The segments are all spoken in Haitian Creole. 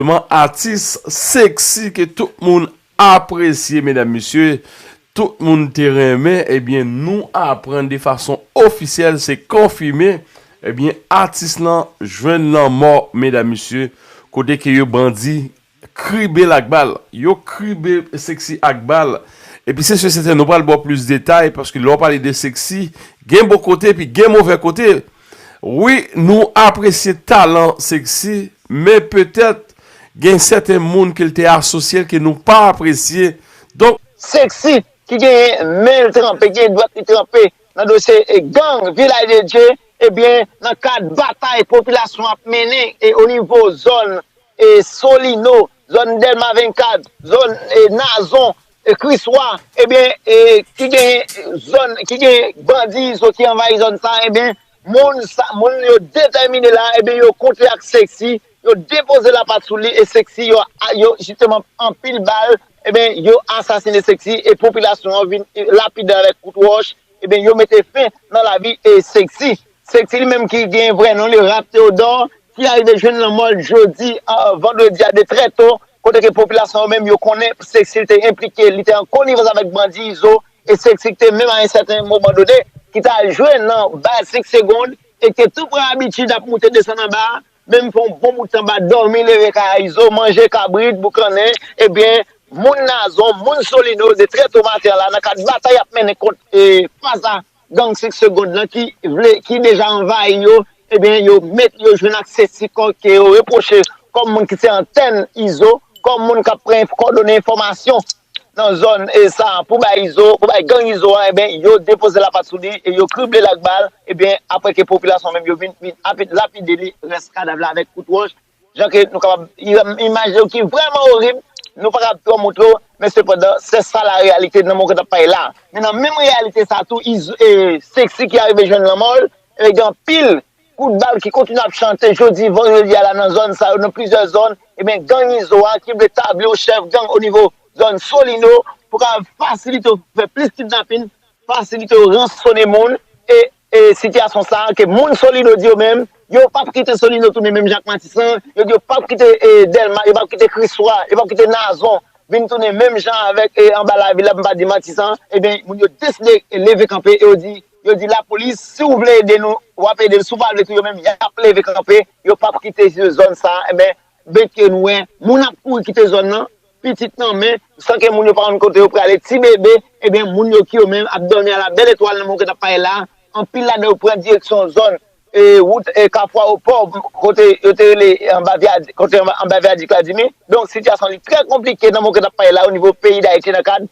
Vrèman atis sexy ke tout moun apresye medam mesye tout moun te renmen ebyen nou aprann de fason ofisyèl se konfime ebyen atis lan jwenn lanmò medam mesye kote ke yo bandi kribel ak bal yo kribe sexy ak bal epi se sur sèten nou pral baw plis detay paske lè w pale de sexy gen bon kote epi gen movè kote wi nou apresye talan sexy Men petèt gen sèten moun ke l te asosye l ke nou pa apresye. Donk. Sexy ki genyen men l tranpe, genyen dwèt li tranpe nan dosye gang Vilaj de Dye, ebyen nan kad batay popilasyon ap mennen o nivo zòn Solino, zòn Dèlma 24, zòn Nazon, Kriswa, ebyen ki genyen zòn, ki genyen bandi Izo ki anvayi zòn sa, ebyen Moun sa moun yo detèmine la ebyen yo kontre ak Sexy, yo depoze lapat sou li e Sexy yo yo jisteman anpile bal ebyen yo asasine Sexy e popilasyon an vin lapidel avèk kout wòch ebyen yo mete fen nan lavi e Sexy. Sexy li menm ki gen vrè non li Ralph Théodore ki arive jwenn lanmò l jodi vandredi a de trè to kote ke popilasyon yo menm yo konnen Sexy te enplike li te an konivans avèk bandi Izo Estrikti te menm a yon sèten moman done ki ta jwe nan baz sik segond e ki te tou pran abitid ap moute desann anba a, menm fè yon bon bout tan bat dòmi leve kay izo, manje kabrit, boukannen, ebyen moun Nazon, moun Solino, 2 trèt o maten la nan kad batay y ap mennen kont fas a gang sik segond lan ki vle, ki deja anvayi yo, ebyen yo met yo jwenn ak se sik ke yo repwoche kòm moun ki se antèn izo, kòm moun k ap pran kòdone enfòmasyon. nan zòn sa pou bay Izo, pou bay gang Izo a enben yo depoze lapat sou li e yo krible l ak bal enben aprè ke popilasyon menm yo vin lapide li rès kadav la avèk kout wòch jan ke nou kapab imajine w ki vrèman orib nou pa kab twò montre w men sepandan se sa la reyalite nan moman ke n ap pale la men nan menm reyalite sa tou Izo Sexy ki arive jwenn lanmò l e gen anpil Kout bal ki kontinye ap chante jodi vandredi a la nan zòn sa yo, nan plizyè zòn, ebyen gang Izo a ki vle tabli yo chèf gang onivo zòn Solino pou ka fasilite yo fè plis kidnapin, fasilite yo ransone moun e e sitiyasyon sa ke moun Solino di yo menm yo pap kite Solino tounen menm jan ak Matisan, yo di yo pap kite e Dèlma, yo pap kite Kriswa, yo pap kite Nazon vin tounen menm jan avèk e anba lavil la pou m pa di Matisan, ebyen moun yo deside leve kanpe e yo di yo di lapolis si ou vle ede nou wap ede nou si ou pa vle tou yo menm yap leve kanpe yo pap kite se zòn sa enben benke nou wè moun ap kouri kite zòn nan pitit nan men san ke moun yo pa konn kote yo prale ti bebe enben moun yo ki yo menm ap dòmi a la bèl etwal nan monkèt ap pale la anpil ladan yo pran direksyon zòn wout kafou awopò kote yo te rele anba vyadi kote anba vyadi kladimi donk sitiyasyon li trè konplike nan monkèt ap pale la onivo peyi dayiti nan kad.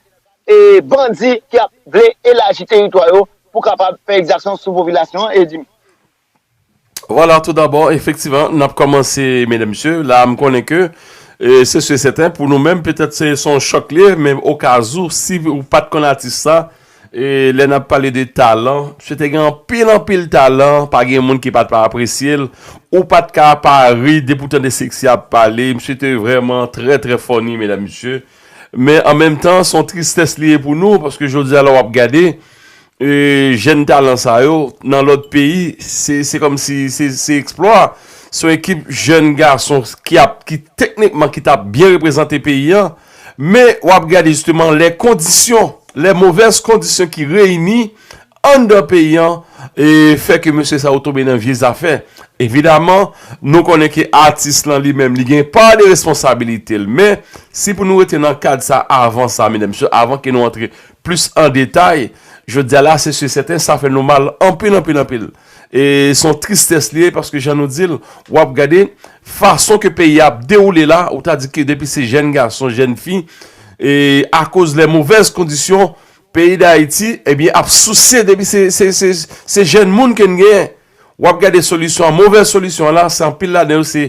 bandi ki ap vle elaji teritwa yo pou kapab fè egzaksyon sou popilasyon an e di. Vwala tou dabò efektivan n ap kòmanse medam mesye la a m konnen ke se si e sèten pou nou menm petèt se se yon chòk li ye men okazou si ou pa t konn atis sa e lè n ap pale de talan msye te gen anpil anpil talan pa gen moun ki pa t pa apresye l ou pa t ka pa ri depi w tande seksy ap pale msye te vrèman trè trè fòni medam mesye. Men an menm tan son tristès li ye pou nou paske jodi a lè wap gade jèn talan sa yo nan lòt peyi se kòm si se eksplwa son ekip jèn gason ki ap ki teknikman ki tap byen reprezante peyi an men wap gade jisteman lè kondisyon lè movèz kondisyon ki reyini Anndan peyi an, e fè ke mesye sa yo tonbe nan vye zafè. Evidaman, nou konnen ke atis lan li menm li gen pa de responsabilite l. Men, si pou nou rete nan kad sa avan sa, medam mesye, avan ke nou antre plis an detay, jodi a la, se si e sèten, sa fè nou mal anpil, anpil, anpil. E se yon tristès li ye, paske jan nou di l, w ap gade fason ke peyi a ap dewoule la, ou ta di ke depi se jèn gason, jèn fi, e akoz lè movèz kondisyon, Peyi dayiti ebyen ap souse depi se jèn moun ke n genyen wap gade solisyon an movèz solisyon an la se anpil ladan yo se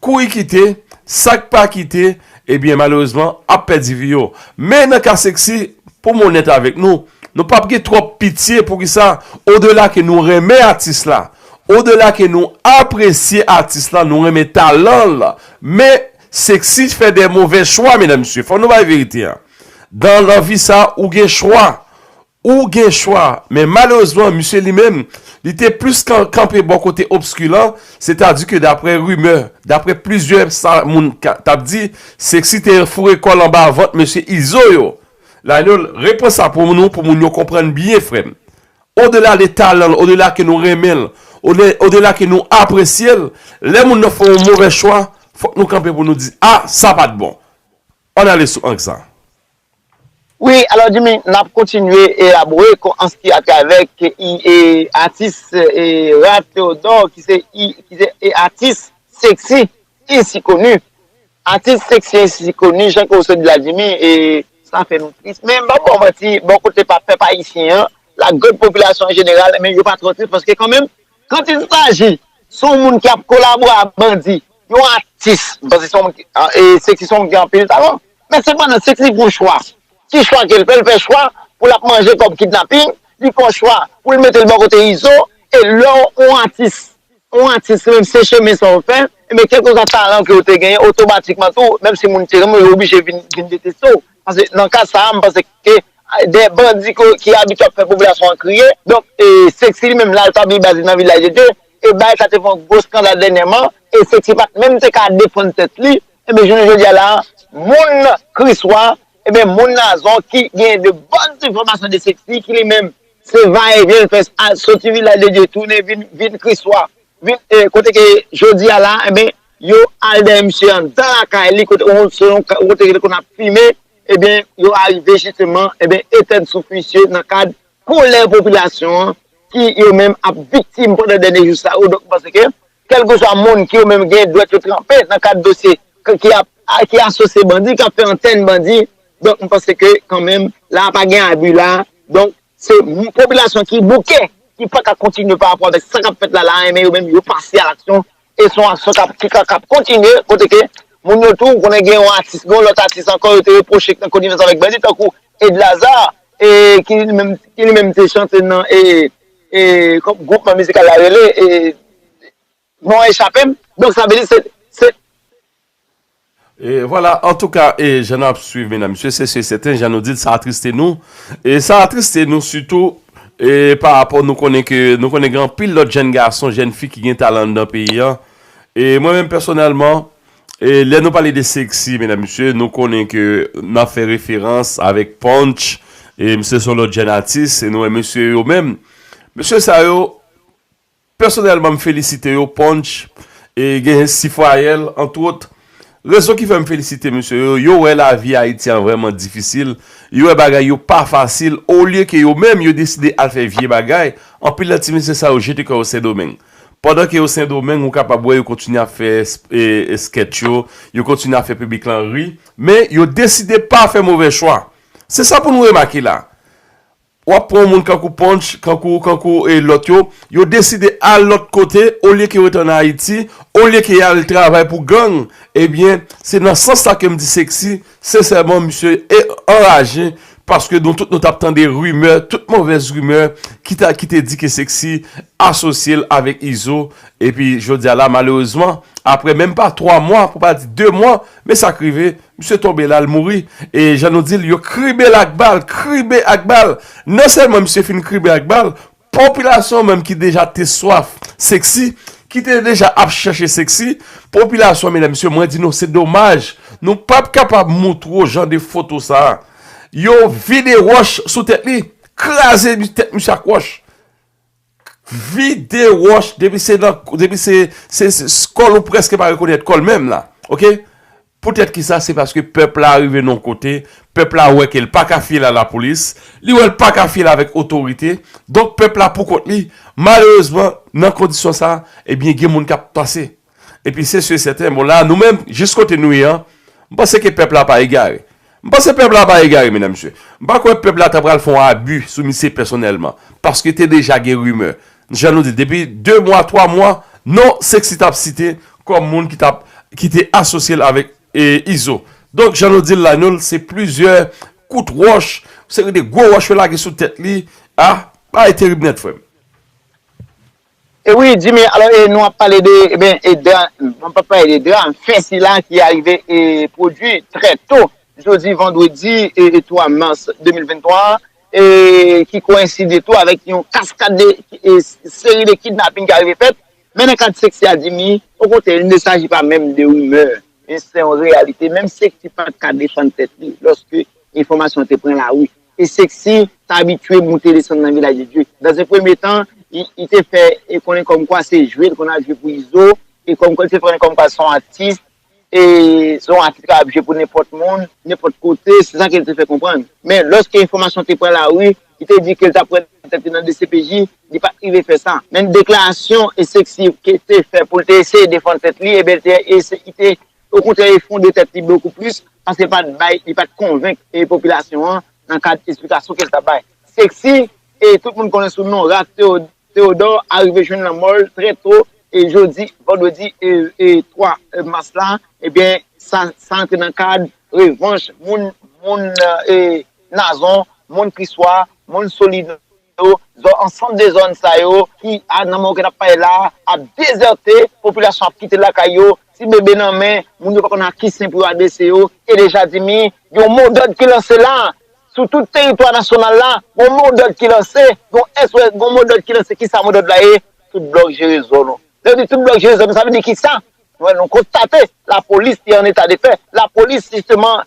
kouri kite sak pa kite ebyen malerezman ap pèdi vi yo men nan ka seksi pou m onèt avèk nou nou pap gen twòp pitye poukisa odela ke nou renmen atis la odela ke nou apresye atis la nou renmen talan l men Sexy fè de movè chwa medan mesye fò nou bay verite an dan lavi sa ou gen chwa ou gen chwa men malerezman misye li menm li te plis kanpe bò kote obski lan se ta di ke daprè rimè daprè plizyè sa moun tap di Sexy te foure kòl anba vant mesye izo yo Lainol repran sa pou nou pou moun yo konprann byen frèm Odela de talan l, odela ke nou renmen l, odela ke nou apresye l, lè moun nan fè yon movè chwa, fòk nou kanpe pou nou di, a, sa pa t bon. Ann ale sou ank sa. Wi, alò Jimmy, n ap kontinye elabore kon ans ki atravèk e atis e Ralph Theodore ki se e atis seksi e si koni. Atis seksi isi koni jan ke w sot di la Jimmy e sa fè nou tris men m pap ba w manti bò kote pa pèp ayisyen an la gran popilasyon an jeneral men yo pa twò tris paske kanmenm kant il saji s on moun ki ap kolabore a bandi yon atis paske s on moun ki e seksi s on moun ki gen anpil talan men sepandan seksi gon chwa ki chwa ke l fè l fè chwa pou l ap manje kòb kidnaping li fè w chwa pou l mete l bò kote izo e lè w on atis Ou atis menm se chemen sa ou fè, enben kèlkeswa talan ke ou te genyen otomatikman tou menm si moun te renmen w yo oblije vin vin deteste w. Pase nan ka sa a m panse ke de bandi ke ki abitye ap fè popilasyon an kriye donk e Sexy li menm la l pa vle baze nan Vilaj de Dye e bagay sa te fè yon gwo skandal dènyèman e Sexy pa t menm te ka defann tèt li enben jounen jodi a la a moun Kriswa enben moun Nazon ki genyen de bòn enfòmasyon de Sexy ki li menm Se va e vyen fè sa, soti vilaj de Dye tounen vin Kriswa. Kote ke jodi a la, enben, yo al dèyè misye andan lakay li kote li te konn ap fimen, enben, yo arive jisteman, enben, etenn souf misye nan kad kolè popilasyon an ki yo menm ap viktim pandan dènye jou sa yo. Donk, m panse ke Kèlkeswa moun ki yo menm gen dwèt yo tranpe nan kad dosye ki ap ki asosye bandi, k ap fè antèn bandi. Donk m panse ke kan menm la pa gen abi la. Donk se popilasyon ki bouke, ki pa ka kontinye pa rapò avèk sa k ap fèt la la a enben yo menm yo pase a laksyon e se yon aksyon k ap ki ka k ap kontinye kote ke moun yo tou ou konnen gen yon atis gen yon lòt atis ankò yo te repwoche ki nan konivans avèk bandi tankou Edlazar e ki li menm ki li menm te chante nan e Gwoupman mizikal la rele, non an echape m. Donk sa vle di se. E vwala, antouka, e jan n ap swiv medan mesye, se si e sèten, jan nou di l, sa atriste nou. E sa atriste nou sitou e pa rapò nou konnen ke nou konnen gen anpil lòt jenn gason, jenn fi ki gen talan anndan peyi an. E mwen menm pèsonèlman, Lè nou pale de sexy medam mesye nou konnen ke nan fè referans avèk Punch e misye son lòt jèn atis e nou wè mesye yo menm mesye sa yo pèsonèlman m felisite yo Punch e gen Sifwayèl antwot rezon ki fè m felisite mesye yo yo wè lavi Ayiti an vrèman difisil yo wè bagay yo pa fasil olye ke yo menm yo deside al fè vye bagay anpil nan ti mesye sa yo jete kò yo Sendomeng Pandan ke yo Sendomeng ou kapab wè yo kontinye ap fè sketch yo, yo kontinye ap fè piblik lan ri, men yo deside pa fè movè chwa. Se sa pou nou remake la. Ou ap pran yon moun kankou Punch, kankou, kankou e lòt yo, yo deside al lòt kote olye ke yo ret an Ayiti, olye ke y al travay pou gang, ebyen se nan sans sa ke m di Sexy Sensèman misye anraje paske nou tout nou tap tande rimè, tout movèz rimè ki ta ki te di ke Sexy asosye l avèk Izo epi jodi a la malerezman aprè menm pa 3 mwa pou pa di 2 mwa men sa k rive misye tonbe la l mouri e jan nou di l yo kribe l ak bal, kribe ak bal! Non sèlman misye fin kribe ak bal Popilasyon menm ki deja te swaf sexy, ki te deja ap chèche sexy, popilasyon medam mesye mwen di nou se domaj nou pap kapab moutre w jan de foto sa. Yo vide wòch sou tèt li, kraze tèt misye ak wòch. Vide wòch depi se nan depi se kòl ou prèske pa rekonèt kòl menm la ok. Poutèt ki sa? Se paske pèp la rive nan yon kote, pèp la wè ke l pa ka fiyèl a lapolis, li wè l pa ka fiyèl avèk otorite, donk pèp la pou kont li, malerezman, nan kondisyon sa, ebyen gen moun k ap panse. Epi se si e sèten, bon la nou menm, jis kote nou ye an, m panse ke pèp la pa egare. M panse pèp la pa egare medam mesye. M pa kwè pèp la ta pral fon abu sou misye pèsonèlman. Paske te deja gen rimè. Jan nou di depi 2 mwa 3 mwa non Sexy tap site kòm moun ki tap ki te asosye l avèk Izo. Donk jan nou di l la nou l se plizyè kout wòch seri de gwo wòch yo lage sou tèt li ah bagay terib nèt frè m. E wi Jimmy alò e nou ap pale de eben e dra mwen pap pale de dra fè sila ki arive e pwodwi trè to jodi vandredi e 3 mas 2023 an e ki koenside tou avèk yon kaskad de e seri de kidnaping ki arive fèt men nan kad sèks ya Jimmy okontrè il ne saji pa menm de rimè men se yon reyalite menm sèks ki pat ka defann tèt li lòske enfòmasyon te pran lari Te Sexy t abitye moute desann nan Vilaj de Dye. Dans un premye tan, li te fè konnen kòmkwa se jwe l konn al jwe pou Izo e kòmkwa li te fè konnen kòmkwa se yon atis e se yon atis ki kapab jwe pou nenpòt moun, nenpòt kote, se sa ke l te fè konprann. Men, lòske enfòmasyon te pran lari, li te di ke l t ap pran tèt li nan dcpj, li pa t rive fè sa. Men deklarasyon Sexy te fè pou l te eseye defann tèt li, ebyen li te Okontrè efondre tèt li bokou plis paske li pat bay, li pat konvenk popilasyon an nan kad esplikasyon ke li tap bay. Sexy e tout moun konnen sou non Ralph Theodore arive jwenn lanmò l trè to jodi vandredi 3 mas la ebyen sa sa antre nan kad revanch moun moun Nazon, moun Kriswa, moun Solino. yo, zòn ansanm de zòn sa yo ki a nan moman ke nap pale la ap dezète, popilasyon ap kite lakay yo, ti bebe nan men, moun yo pa konn a ki sen pou yo adrese yo, e de jadimi, gen yon mo dòd ki lanse la, sou tout teritwa nasyonal la, gen yon mo dòd ki lanse, gen yon SOS, gen yon mo dòd ki lanse, kisa mo dòd la ye, tout blòk jere zòn ou, lè yo di tout blòk jere zòn ou sa vle di kisa? Wè nou konstate lapolis te an eta de fè. Lapolis jisteman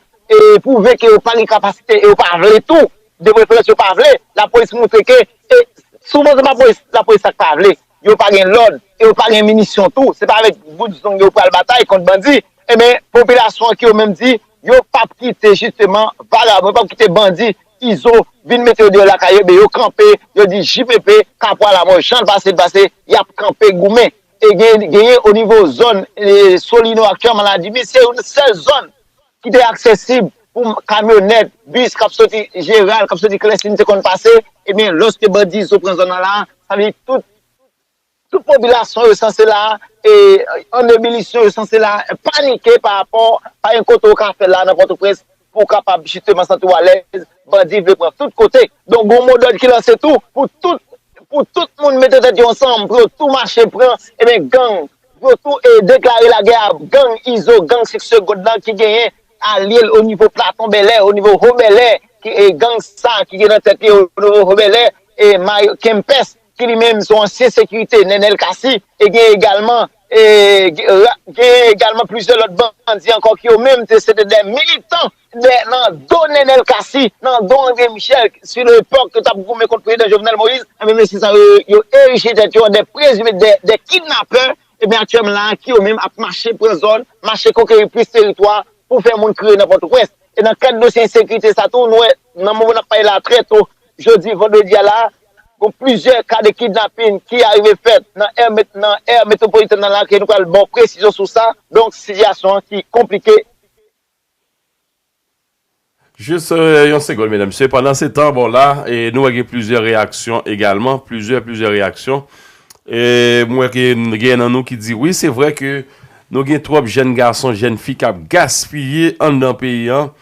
pwouve ke yo pa gen kapasite e yo pa vle tou. De preferans yo pa vle. Lapolis montre ke e souvan se pa lapolis sa k pa vle. Yo pa gen lòd e yo pa gen minisyon tou. Se pa avèk bout zong yo pral batay kont bandi. Enben popilasyon an ki yo menm di yo p ap kite jisteman vagabon, yo p ap kite bandi, izo vin mete yo deyò lakay yo. Enben yo kanpe, yo di JPP, Kapwa Lamò, jan l pase l pase, y ap kanpe goumen. e genyen o nivo zòn Solino ak Kè Maladi, men se youn sèl zòn ki te aksesib pou kamyonèt, bis k ap soti Jeral, k ap soti Klèsin te konn pase, e men lòske bandi Izo pran zòn nan la, sa vle di tout tout popilasyon yo sanse la e an ebilisyon yo sanse la panike pa rapò pa gen kote ou ka fè la nan Pòtoprens. Pou w kapab jisteman santi w alèz, bandi vle pran tout kote. Donk gon mo dòd ki lanse tou pou tout pou tout moun mete tèt yo ansanm pou yo tou mache pran eben gang pou yo tou e deklare lagè a gang Izo, gang Sik Segond lan ki genyen alye l onivo Platon Bèlè, onivo Ho Bèlè ki e gang sa ki gen nan tèt li onivo Ho Bèlè e Mayo Kempès ki li menm se yon ansyen sekirite Nenel Kasi e gen egalman Gen egalman plizyè lòt bandi ankò ki yo menm se te de militan nan do Nenel Cassy, nan do André Michel sou lepòk yo t ap goumen kont prezidan Jovenel Moïse. Enben mesye sa yo, yo erije tèt yo an de prezime de kidnapè. Enben aktyèlman la ki yo menm ap mache pran zòn, mache konkeri plis teritwa pou fè moun kriye nan Pòtoprens. E nan kad dosye ensekirite sa tou nou wè nan moman n ap pale la trè to Jodi vandredi a la, gon plizyè ka de kidnapin ki arive fèt nan è nan è metwopolitèn nan lakay nou pral baw presizyon sou sa, donk sitiyasyon an ki konplike. Jis yon segonn medam mesye, pandan se tan bon la e nou wè gen plizyè reyaksyon egalman, plizyè plizyè reyaksyon e m wè ke gen nan nou ki di wi se vre ke nou gen twòp jèn gason, jèn fi kap gaspiye anndan peyi an.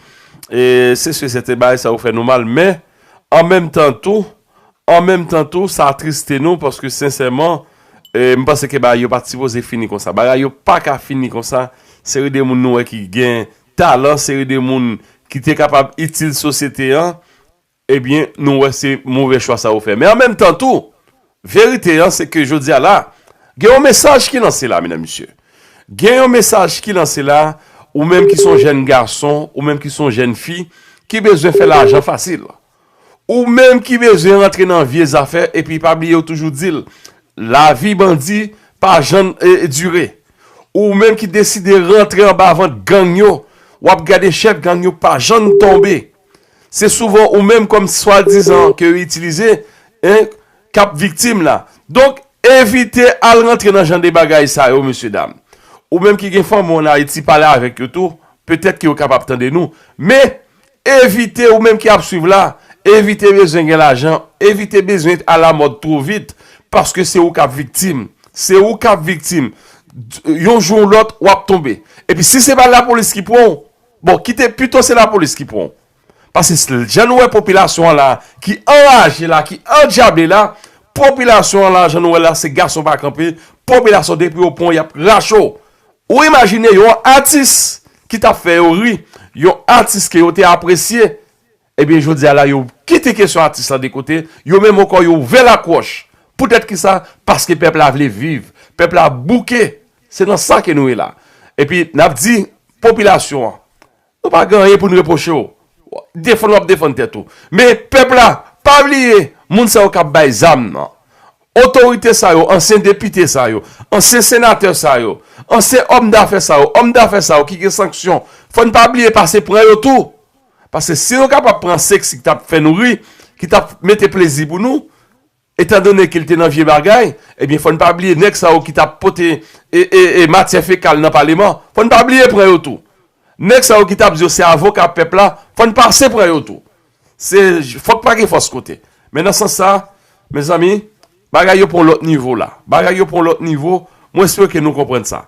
Se si sèten bagay sa yo fè nou mal men an menm tan tou, an menm tan tou sa atriste nou paske sensèman m panse ke bagay yo pa t sipoze fini konsa. Bagay yo pa ka fini konsa, seri de moun nou wè ki gen talan, seri de moun ki te kapab itil sosyete an. Ebyen nou wè se move chwa sa ou fè. Men an menm tan tou, verite an se ke jodi a la, gen yon mesaj ki lanse la menan misye. Gen yon mesaj ki lanse la, ou menm ki son jèn gason, ou menm ki son jèn fi, ki bezwen fè lajan fasil. Ou menm ki bezwen rantre nan vye zafè, epi pa bliye yo toujou di l, lavi bandi pa jann dire. Ou menm ki deside rantre anba vant gang yo, w ap gade chèf gang yo pa jann tonbe. Se souvan ou menm kòm swadizan ke yo itilize e kap viktim la. Donk evite al rantre nan jan de bagay sa yo mesye dam. Ou menm ki gen fanmi w an Ayiti pale avèk yo tou, petèt ke yo kapab tande nou. Men, evite ou menm ki ap swiv la, evite bezwen gen lajan, evite bezwen alamòd two vit, paske se ou kap viktim. Se ou kap viktim. Yon jou ou lòt wap tonbe. Epi si se pa lapolis ki pran w, Bon kite pito se lapolis ki pran w. Pase jan nou wè popilasyon an la ki anraje la ki andyable la, popilasyon an la jan nou wè la se gason pa kanpe, popilasyon depi yo pran w yap rache w. Ou imajine yon atis ki tap fè yo ri, yon atis ke yo te apresye, Ebyen jodi a la yo kite kesyon atis lan de kote, yo menm ankò yo ouvè lakwòch. Poutèt kisa? Paske pèp la vle viv. Pèp la bouke. Se nan sa ke nou ye la. Epi n ap di popilasyon an, nou pa gen anyen pou n repwoche w. Defann w ap defann tèt ou. Men pèp la, pa bliye moun sa yo k ap bay zam nan, otorite sa yo, ansyen depite sa yo, ansyen senatè sa yo, ansyen òm dafè sa yo, òm dafè sa yo ki gen sanksyon, fò n pa bliye pase pran yo tou. Paske si nou kapab pran seks ki tap fè nou ri, ki tap mete plezi pou nou, etan done ke li te nan vye bagay, ebyen fò n pa bliye nèg sa yo ki tap pote matyè fekal nan paleman, fò n pa bliye pran yo tou. Nèg sa yo ki tap di yo se avoka pèp la, fò n pase pran yo tou. Se fòk pa gen fòs kote. Men nan sans sa, mezanmi, bagay yo pran yon lòt nivo la. Bagay yo pran yon lòt nivo, mwen espere ke nou konprann sa.